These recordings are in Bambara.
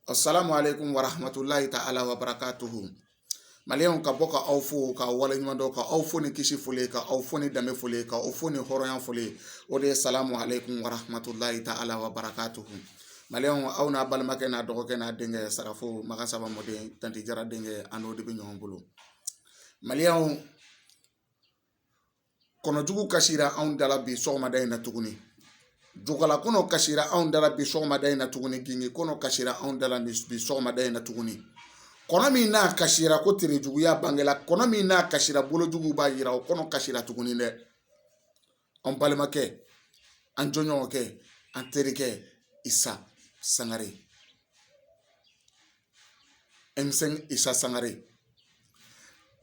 asalamu alekum waramatulayi taala wabarakatu maliyɛn ka bɔ ka aw fo ka waleɲumandɔn ka aw fo ni kisi foli ye ka aw fo ni danbe foli ye ka aw fo ni hɔrɔnya foli ye o de ye salamu alekum waramatulayi taala wabarakatu maliyɛn aw n'a balimakɛ n'a dɔgɔkɛ n'a denkɛ sarafo makan saba mɔden tanti jara denkɛ anw de bɛ ɲɔgɔn bolo maliyɛn kɔnɔjugu kasira anw dala bi sɔgɔmada in na tuguni jokala kɔnɔ kasira anw dala bi sɔgɔmada in na tuguni gingin kɔnɔ kasira anw dala bi sɔgɔmada in na tuguni kɔnɔ min n'a kasira ko terejuguya bangela kɔnɔ min n'a kasira bolojugu b'a yira o kɔnɔ kasira tuguni dɛ an balimakɛ an jɔɲɔgɔnkɛ an terikɛ isa sangare ɛmsɛnki isa sangare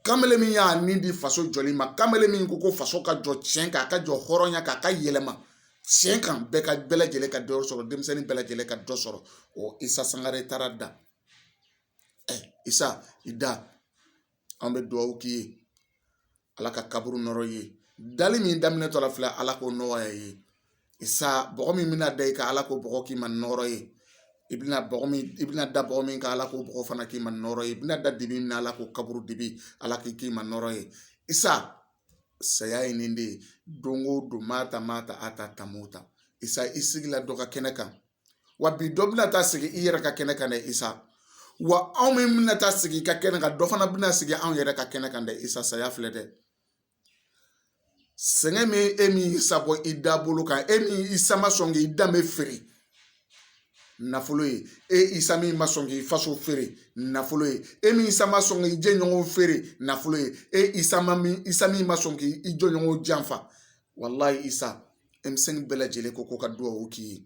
kamalen min y'a ni di faso jɔli ma kamalen min ko ko faso ka jɔ tiɲɛ kan a ka jɔ hɔrɔnya kan a ka yɛlɛma tiɲɛ kan bɛɛ ka bɛɛ lajɛlen ka dɔ sɔrɔ denmisɛnnin bɛɛ lajɛlen ka dɔ sɔrɔ o isa sangare taara da ɛ isa i da an bɛ dugawu k'i ye ala ka kaburu nɔɔrɔ i ye dali min daminɛtɔla filɛ ala k'o nɔgɔya i ye isa bɔgɔ min bɛna da i kan ala k'o bɔgɔ k'i ma nɔɔrɔ ye i bɛna bɔgɔ min i bɛna da bɔgɔ min kan ala k'o bɔgɔ fana k'i ma nɔɔrɔ ye i bɛna da dibi min na ala k'o kaburu dibi ala k'i k'i ma nɔɔrɔ ye isa saya ye nin de ye don o don maa ta maa ta a ta tamo ta isa i sigila dɔ ka kɛnɛ kan wa bi dɔ bɛna taa sigi i yɛrɛ ka kɛnɛ kan dɛ isa wa anw min bɛna taa sigi i ka kɛnɛ kan dɔ fana bɛna sigi anw yɛrɛ ka kɛnɛ kan dɛ isa saya filɛ dɛ sɛgɛn min e min y'isa bɔ i dabolo kan e min isa ma sɔn k'i danbe feere nafolo ye e isa min ma sɔn k'i faso feere nafolo ye e min isa ma sɔn k'i jɛɲɔgɔnw feere nafolo ye e isa ma min isa min ma sɔn k'i jɔɲɔgɔnw janfa walayi isa ɛmsɛnki bɛɛ lajɛlen ko ko ka dugawu k'i ye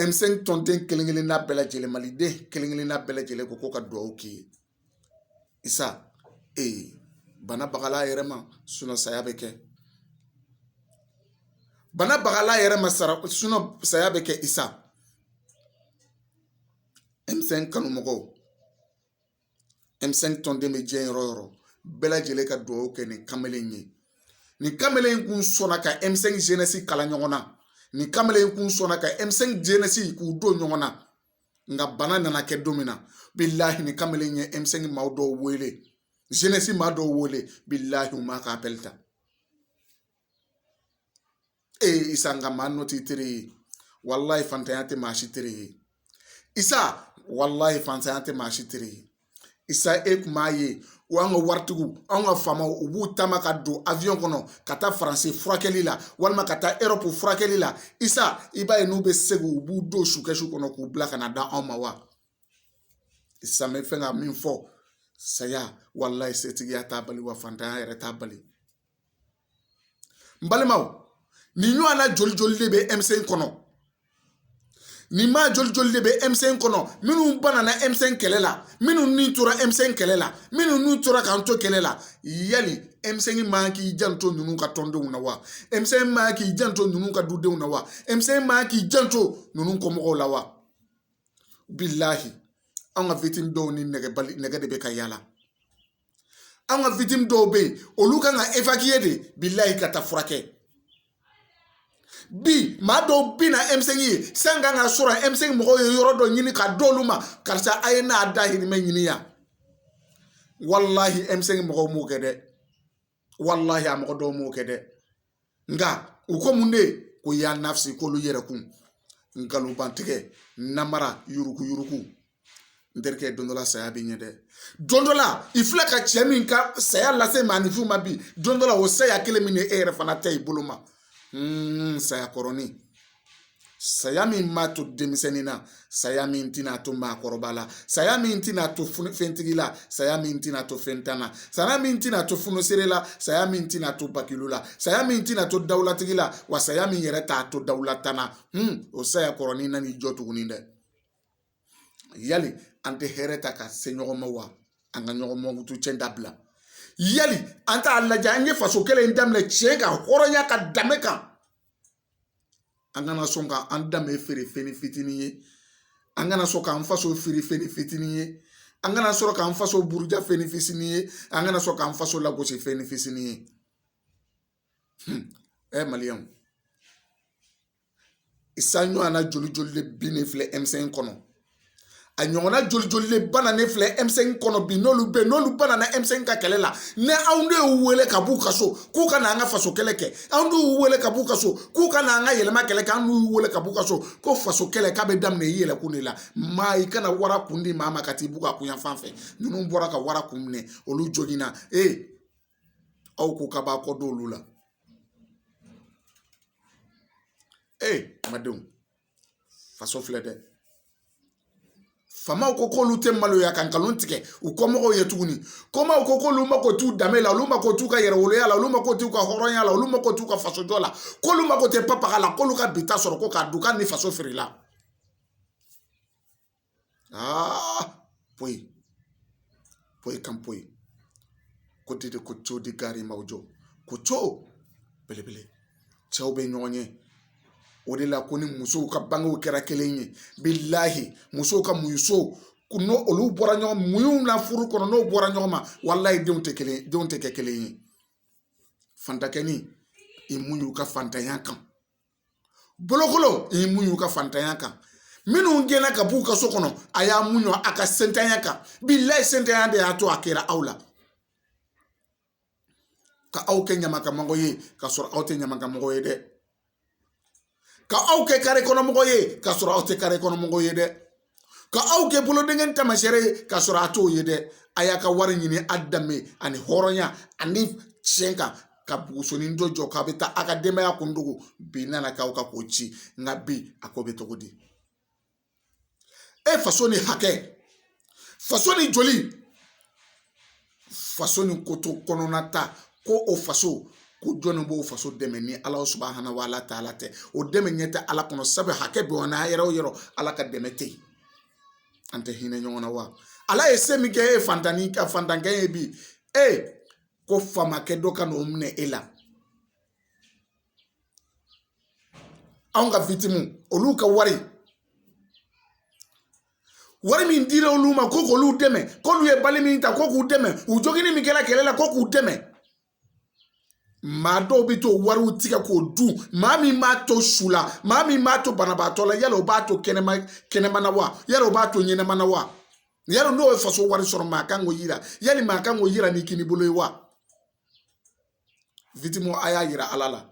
ɛmsɛnki tɔnden kelen kelen n'a bɛɛ lajɛlen maliden kelen kelen n'a bɛɛ lajɛlen ko ko ka dugawu k'i ye isa ee bana bagala yɛrɛ ma saya bɛ kɛ bana bagala yɛrɛ ma sara saya bɛ kɛ isa ɛmsɛnki kanu mɔgɔw ɛmsɛnki tɔnden bɛ diɲɛ yɔrɔ yɔrɔ bɛɛ lajɛlen ka dugawu kɛ nin kamalen in ye nin kamalen in kun sɔnna ka ɛmsɛnki zenɛsi kala ɲɔgɔn na nin kamalen in kun sɔnna ka ɛmsɛnki zenɛsi k'u don ɲɔgɔn na nka bana nana kɛ don min na bilahi nin kamalen in ye ɛmsɛnki maaw dɔw wele zenɛsi maa dɔw wele bilahi u m'a ka apɛli ta e ye isa nka maa nɔ t'i teri ye walayi fantanya tɛ maa si teri ye isa walayi fantanya tɛ maa si teri ye isa e kun b'a ye o y'an ka waritigiw anw ka faamaw u b'u taama ka don avion kɔnɔ ka taa faransi furakɛli la walima ka taa erɔpu furakɛli la isa i b'a ye n'u bɛ segin u b'u don sukɛsu kɔnɔ k'u bila ka na d'anw ma wa isa n bɛ fɛn ka min fɔ saya walayi setigiya t'a bali wa fantanya yɛrɛ t'a bali n balimaw nin ɲɔgɔnna joli joli de bɛ emisɛn kɔnɔ nin maa joli joli de bɛ emisɛn kɔnɔ minnu banana emisɛn kɛlɛ la minnu ni tora emisɛn kɛlɛ la minnu ni tora k'an to kɛlɛ la yali emisɛn man k'i janto ninnu ka tɔndenw na wa emisɛn man k'i janto ninnu ka dudenw na wa emisɛn man k'i janto ninnu kɔmɔgɔw la wa bilahi an ka victime dɔw ni nɛgɛ balle nɛgɛ de bɛ ka yaala an ka victime dɔw bɛ yen olu kan ka évacué de bilahi ka taa furakɛ bi maa dɔw bɛ na emisɛn ye san kan ka sɔrɔ emisɛn mɔgɔw ye yɔrɔ dɔ ɲini ka d'olu ma karisa a ye n'a dahirimɛ ɲini yan walahi emisɛn mɔgɔw m'o kɛ dɛ walahi a mɔgɔ dɔw m'o kɛ dɛ nka u ko mun de ko ya nafsi k'olu yɛrɛ kun nkalonbatigɛ namara yuruguyurugu n terikɛ don dɔ la saya bɛ yen dɛ don dɔ la i filɛ ka cɛ min ka saya lase maaninfin ma bi don dɔ la o saya kelen bɛna e yɛrɛ fana ta i bolo ma saya kɔrɔnin saya min ma to denmisɛnnin na saya min tɛna to maakɔrɔba la saya min tɛna to fɛntigi la saya min tɛna to fɛntan na saya min tɛna to funuseere la saya min tɛna to bakilu la saya min tɛna to dawulatigi la wa saya min yɛrɛ t'a to dawulatan na o saya kɔrɔnin nan'i jɔ tuguni dɛ yali an tɛ hɛrɛ ta ka se ɲɔgɔn ma wa an ka ɲɔgɔn mankutu cɛn dabila yali an t'a lajɛ an ye faso kɛlɛ daminɛ tiɲɛ kan hɔrɔnya kan danbe kan an kana sɔn ka an danbe feere fɛn fitinin ye an kana sɔn k'an faso feere fɛn fitinin ye an kana sɔrɔ k'an faso buruja fɛnnin fisini ye an kana sɔrɔ k'an faso lagosi fɛnnin fisini ye ɛ maliyɛnw isa ɲɔgɔnna joli joli de binnen filɛ emisɛn kɔnɔ a ɲɔgɔnna joli joli de bananen filɛ emisɛn kɔnɔ bi n'olu bɛ n'olu banana emisɛn ka kɛlɛ la ne anw de y'u wele ka b'u ka so k'u ka na an ka faso kɛlɛ kɛ anw de y'u wele ka b'u ka so k'u ka na an ka yɛlɛma kɛlɛ kɛ anw y'u wele ka b'u ka so ko faso kɛlɛ k'a bɛ daminɛ i yɛrɛ kun de la maa i kana wara kun di maa ma ka t'i b'u ka ku yan fan fɛ ninnu bɔra ka wara kun minɛ olu joginna ee aw ko k'a b'a kɔ don olu la ee n badenw faso filɛ dɛ faamaw ko k'olu tɛ maloya ka nkalon tigɛ u kɔmɔgɔw ye tuguni kɔmaaw ko k'olu mako t'u danbe la olu mako t'u ka yɛrɛwoloya la olu mako t'u ka hɔrɔnya la olu mako t'u ka fasojɔ la k'olu mako tɛ papaga la k'olu ka bi ta sɔrɔ ko k'a dun k'a ni faso feerela Ah, poyi. Poyi kan poyi. Ko de ko co de gari ma jɔ ko co belebele cɛw bɛ ɲɔgɔn ye o de la ko ni musow ka bangew kɛra kelen ye bilahi musow ka muɲucogo n'o olu bɔra ɲɔgɔn muɲu na furu kɔnɔ n'o bɔra ɲɔgɔn ma walayi denw tɛ kelen denw tɛ kɛ kelen ye fantankɛnin i muɲu ka fantanya kan bolokolon i muɲu ka fantanya kan minnu gɛnna ka b'u ka so kɔnɔ a y'a muɲu a ka sentanya kan bilayi sentanya de y'a to a kɛra aw la ka aw kɛ ɲamankanmɔgɔ ye ka sɔrɔ aw tɛ ɲamankanmɔgɔ ye dɛ ka aw kɛ kare kɔnɔmɔgɔ ye ka sɔrɔ aw tɛ kare kɔnɔmɔgɔ ye dɛ ka aw kɛ bolodenkɛ taamaseere ye k'a sɔrɔ a t'o ye dɛ a y'a ka wari ɲini a danbe ani hɔrɔnya ani tiɲɛ kan ka bugusonin dɔ jɔ k'a bɛ taa a ka denbaya kun dogo bi nana k'aw ka k'o ci nka bi a ko bɛ cogo di e faso ni hakɛ faso ni joli faso ni koto kɔnɔna ta ko o faso ko jɔnni b'o faso dɛmɛ ni ala subahana wa ala taala tɛ o dɛmɛ ne tɛ ala kɔnɔ sabu hakɛ bɛ na yɔrɔ o yɔrɔ ala ka dɛmɛ tɛ yen an tɛ hinɛ ɲɔgɔn na wa ala ye se min kɛ e ye fantannin ka fantankɛ ye bi e ko faamakɛ dɔ ka n'o minɛ e la anw ka victimes olu ka wari wari min dira olu ma ko k'olu dɛmɛ k'olu ye bali min ta ko k'u dɛmɛ u joginni min kɛra kɛlɛ la ko k'u dɛmɛ maa dɔw bɛ t'o wariw tigɛ k'o dun maa min b'a to su la maa min b'a to banabaatɔ la yala o b'a to kɛnɛma kɛnɛma na wa yala o b'a to ɲɛnama na wa yala n'o ye faso wari sɔrɔ maa kan k'o yira yala maa kan k'o yira ni kinibolo ye wa a y'a yira ala la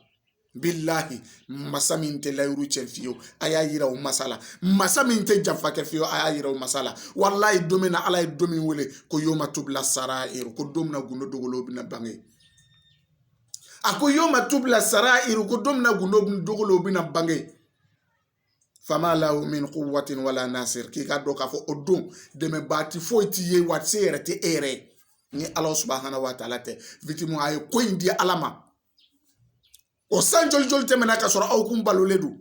bilahi masa min tɛ layidu cɛn fiyewu a y'a yira o masa la masa min tɛ janfa kɛ fiyewu a y'a yira o masa la walayi don min na ala ye don min wele ko yawma tubila sarayiru k'o don na gundo dogolen bɛna bange a ko yawma tubila sarayiru k'o don na gundo dogolen bɛna bange faama la min ko waati wala n'a sera k'i ka dɔn k'a fɔ o don dɛmɛba ti foyi t'i ye waati se yɛrɛ tɛ e yɛrɛ ye ni ala subahana wa taala tɛ witimu a ye ko in di ala ma o san joli joli tɛmɛna ka sɔrɔ aw kun balolen don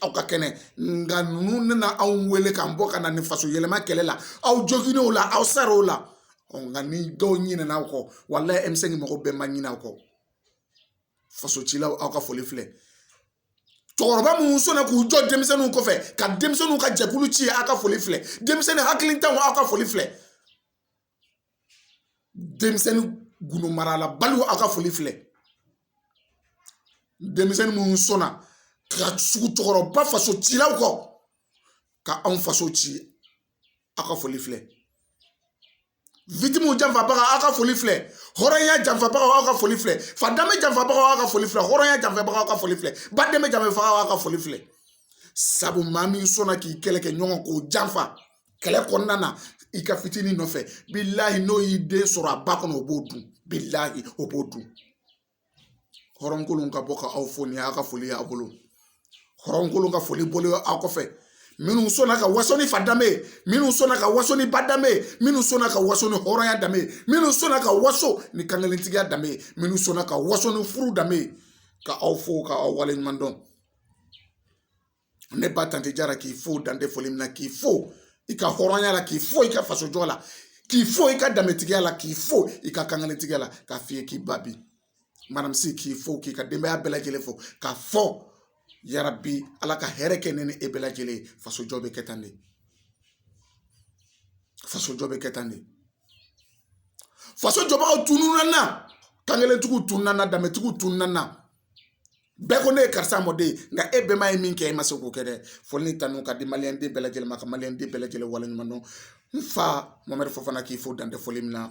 aw ka kɛnɛ nka ninnu nana anw wele k'an bɔ ka na nin faso yɛlɛma kɛlɛ la aw joginna o la aw sara o la nka ni dɔw ɲinɛna aw kɔ walayi emisɛn mɔgɔ bɛɛ ma ɲinɛ aw kɔ faso cilaw aw ka foli filɛ cɛkɔrɔba minnu sɔnna k'u jɔ denmisɛnninw kɔfɛ ka denmisɛnninw ka jɛkulu ci aw ka foli filɛ denmisɛnnin hakilintanw aw ka foli filɛ denmisɛnnin gundo marala baliw aw ka foli filɛ denmisɛnnin minnu sɔnna ka tugu cɛkɔrɔba faso cilaw kɔ ka anw faso ci aw ka foli filɛ witimu janfabaga aw ka foli filɛ hɔrɔnya janfabagaw aw ka foli filɛ fa danbe janfabagaw aw ka foli filɛ hɔrɔnya janfabagaw aw ka foli filɛ ba danbe janfabagaw aw ka foli filɛ sabu maa min sɔnna k'i kɛlɛkɛɲɔgɔn k'o janfa kɛlɛ kɔnɔna na i ka fitinin nɔfɛ bilahi n'o y'i den sɔrɔ a ba kɔnɔ o b'o dun bilahi o b'o dun hɔrɔnkolon ka bɔ ka aw fo nin y'a ka foli y'a bolo hɔrɔnkolon ka foli bolo aw kɔfɛ minnu sɔnna ka waso ni fa danbe ye minnu sɔnna ka waso ni ba danbe ye minnu sɔnna ka waso ni hɔrɔnya danbe ye minnu sɔnna ka waso ni kankelentigiya danbe ye minnu sɔnna ka waso ni furu danbe ye ka aw fo ka aw waleɲuman dɔn ne ba tanti jara k'i fo dan tɛ foli min na k'i fo i ka hɔrɔnya la k'i fo i ka fasojɔ la k'i fo i ka danbetigiya la k'i fo i ka kankelentigiya la k'a f'i ye k'i ba bi manamisi k'i fo k'i ka denbaya bɛɛ lajɛlen fo k'a fɔ yarabi ala ka hɛrɛ kɛ ne ni e bɛɛ lajɛlen ye fasojɔ bɛ kɛ tan de fasojɔ bɛ kɛ tan de faso jɔbagaw tununna kankelentigiw tununna danbetigiw tununna bɛɛ ko ne ye karisa mɔden nka e bɛnba ye min kɛ e ma se k'o kɛ dɛ foli ni tanu k'a di maliyɛn den bɛɛ lajɛlen ma ka maliyɛn den bɛɛ lajɛlen waleɲuman dɔn n fa mamadu fofana k'i fo dan tɛ foli min na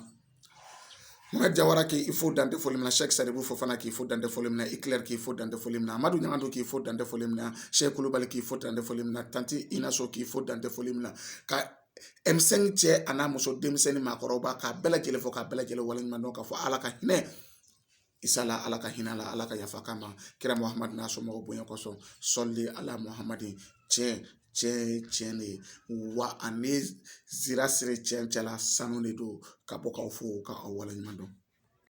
Mɛ jawara k'i fo dan tɛ foli min na sɛki sɛdibu fofana k'i fo dan tɛ foli min na i kɛlɛri k'i fo dan tɛ foli min na amadu ɲagadu k'i fo dan tɛ foli min na sɛ kulubali k'i fo dan tɛ foli min na tanti ina sɔrɔ k'i fo dan tɛ foli min na ka emisɛn cɛ a n'a muso denmisɛnnin maakɔrɔba k'a bɛɛ lajɛlen fo k'a bɛɛ lajɛlen waleɲuman dɔn k'a fɔ ala ka hinɛ Isa la ala ka hinɛ a la ala ka yafa a ma kira muhamadu n'a somɔgɔw bonya kosɔn sɔli ala muhamadu cɛ cɛ ye cɛ de ye wa ani sira siri cɛ cɛla sanu de don ka bɔ k'aw fo k'aw waleɲuman dɔn